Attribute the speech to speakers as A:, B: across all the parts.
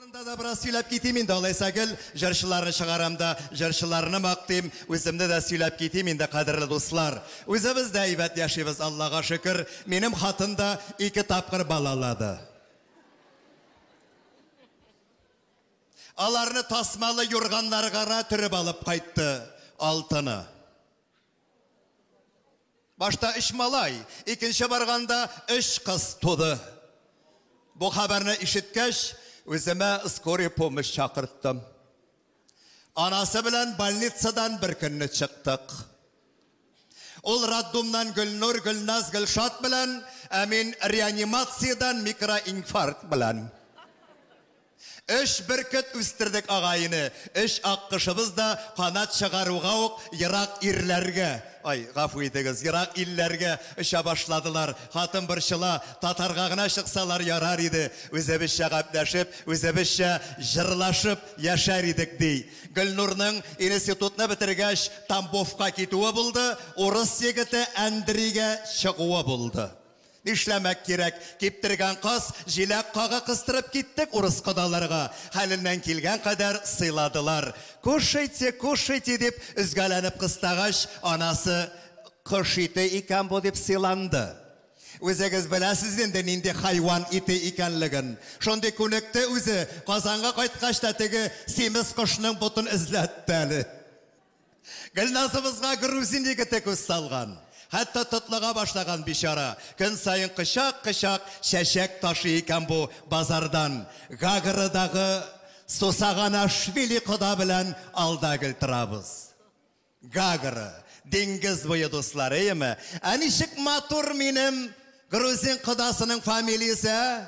A: Турында да бераз сөйләп китим инде, алайса гел җырчыларны чыгарам да, җырчыларны мактыйм, үземне дә сөйләп китим инде, кадерле дуслар. Үзебез дә әйбәт яшибез, Аллага шөкер. Минем хатын да ике тапкыр балалады. Аларны тасмалы юрганнарга гына төреп алып кайтты, алтыны. Башта өч малай, икенче барганда өч кыз туды. Бу хәбәрне ишеткәч, үземә скорый помощь чакырттым. Анасы белән больницадан бер көнне чыктык. Ул роддумнан Гөлнур, Гөлназ, Гөлшат белән, ә мин реанимациядән микроинфаркт белән. Өч бөркет үстердек ага-ине, өч аккошыбыз да канат чыгаруга ук ерак ирләргә, ай, гафу итегез, ерак илләргә оча башладылар. Хатын борчыла, Татарга гына чыксалар ярар иде, үзебезчә гәпләшеп, үзебезчә җырлашып яшәр идек, ди. Гөлнурның институтны бетергәч Тамбовка китүе булды, урыс егете Әндригә чыгуы булды. Нишләмәк кирәк, киптергән каз, җиләк кага кыстырып киттек урыс кодаларга. Хәленнән килгән кадәр сыйладылар. Кушайте, кушайте, дип өзгәләнеп кыстагач, анасы, Кош ите икән бу, дип сыйланды. Үзегез беләсез инде, нинди хайван ите икәнлеген. Шундый күнекте үзе, Казанга кайткач та теге симез кошның ботын эзләтте әле. Гөлназыбызга грузин егете күз салган. Хәтта тотлыга башлаган бичара. Көн саен кочак-кочак чәчәк ташый икән бу базардан. Гаградагы Сусаганашвили кода белән алда гел торабыз. Гагра, диңгез буе дусларыеме? Ә ничек матур минем грузин кодасының фамилиясе, ә?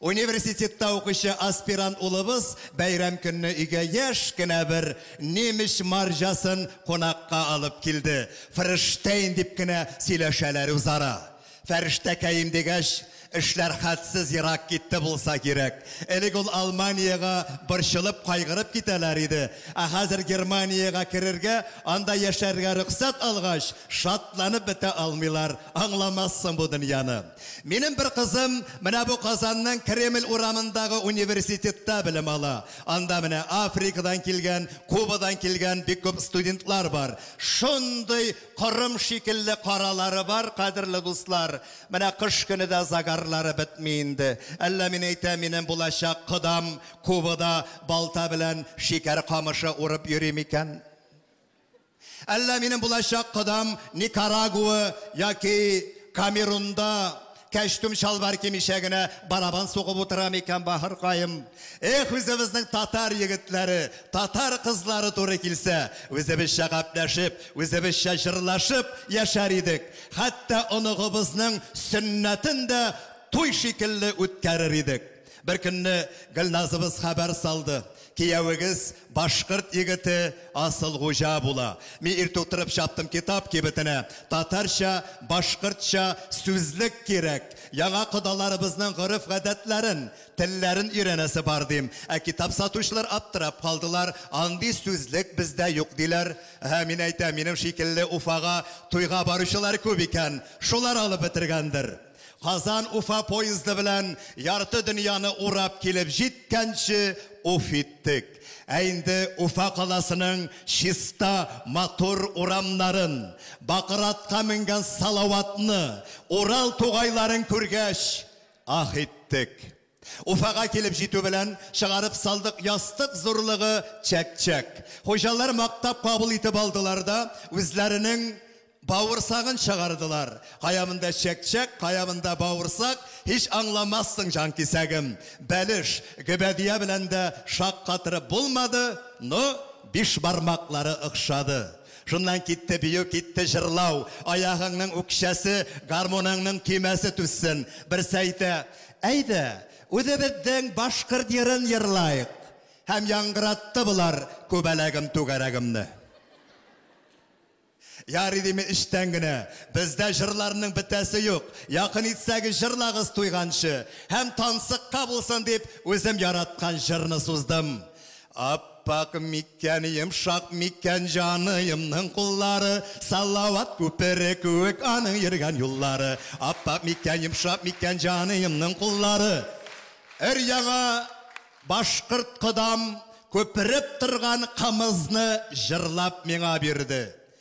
A: Университетта укучы аспирант улыбыз бәйрәм көнне өйгә яшь кенә бер немеч марҗасын кунакка алып килде. Фрештейн дип кенә сөйләшәләр үзара. Фәрештәкәем дигәч, эшләр хәтсез ерак китте булса кирәк. Элек ул Алманиягә борчылып, кайгырып китәләр иде. Ә хәзер Германиягә керергә, анда яшәргә рөхсәт алгач, шатланып бетә алмыйлар. Аңламассың бу дөньяны. Минем бер кызым менә бу Казанның Кремль урамындагы университетта белем ала. Анда менә Африкадан килгән, Кубадан килгән бик күп студентлар бар. Шундый корым шикелле каралары бар, кадерле дуслар. Менә кыш көне дә загарлары бетми инде. Әллә мин әйтәм, минем булачак кодам Кубада балта белән шикәр камышы урып йөри микән? Әллә минем булачак кодам Никарагуа яки Камерунда кәчтүм чалбар кимичә генә барабан сугып утыра микән, бахыркаем? Эх, үзебезнең татар егетләре, татар кызлары туры килсә, үзебезчә гапләшеп, үзебезчә җырлашып яшәр идек, хәтта оныгыбызның сөннәтен дә туй шикелле үткәрер идек. Беркөнне Гөлназыбыз хәбәр салды, Киявегез башкорт егете Асылгуҗа була. Ми иртүк торып чаптым китап кибетенә, татарча, башкортча сүзлек кирәк, яңа кодаларыбызның гореф-гадәтләрен, телләрен өйрәнәсе бар, дим. Ә китап сатучылар аптырап калдылар, андый сүзлек бездә юк, диләр. Әһә, мин әйтәм, минем шикелле Уфага туйга баручылар күп икән, шулар алып бетергәндер. Казан-Уфа поезды белән ярты дөньяны урап килеп җиткәнче уф иттек. Ә инде Уфа каласының чиста, матур урамнарын, бакыр атка менгән Салаватны, Урал тугайларын күргәч, аһ иттек. Уфага килеп җитү белән, чыгарып салдык ястык зурлыгы чәк-чәк. Хуҗалар мактап кабул итеп алдылар да, үзләренең бавырсагын чыгардылар. Кая монда чәк-чәк, кая монда бавырсак, һич аңламассың, җанкисәгем. Бәлеш, гөбәдия белән дә шаккатырып булмады, но бишбармаклары охшады. Шуннан китте бию, китте җырлау. Аягыңның үкчәсе, гармуныңның көймәсе түзсен. Берсе әйтә, Әйдә, үзебезнең башкорт җырын җырлаек! Һәм яңгыратты болар Күбәләгем, түгәрәгемне. Ярый диме эчтән генә, бездә җырларның бетәсе юк, якын итсәгез җырлагыз туйганчы, һәм тансыкка булсын дип үзем яраткан җырны суздым. Аппак микән, йомшак микән җаныемның куллары, Салават күпере күек аның йөргән юллары. Аппак микән, йомшак микән җаныемның куллары. Өр-яңа башкорт кодам күпереп торган кымызны җырлап миңа бирде.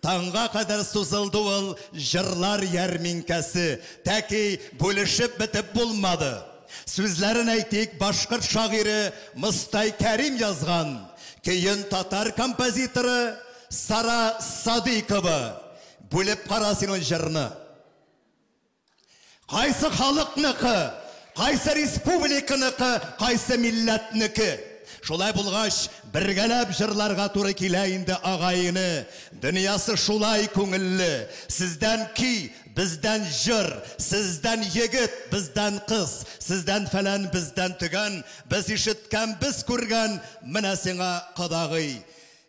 A: Таңга кадәр сузылды ул җырлар ярминкәсе. Тәки бүлешеп бетеп булмады. Сүзләрен әйтик, башкорт шагыйре Мостай Кәрим язган, көен татар композиторы Сара Садыйкова. Бүлеп кара син ул җырны. Кайсы халыкныкы, кайсы республиканыкы, кайсы милләтнеке. Шулай булгач, бергәләп җырларга туры килә инде, агайне. Дөньясы шулай күңелле. Сездән көй, бездән җыр, сездән егет, бездән кыз, сездән фәлән, бездән төгән, без ишеткән, без күргән, менә сиңа кодагый.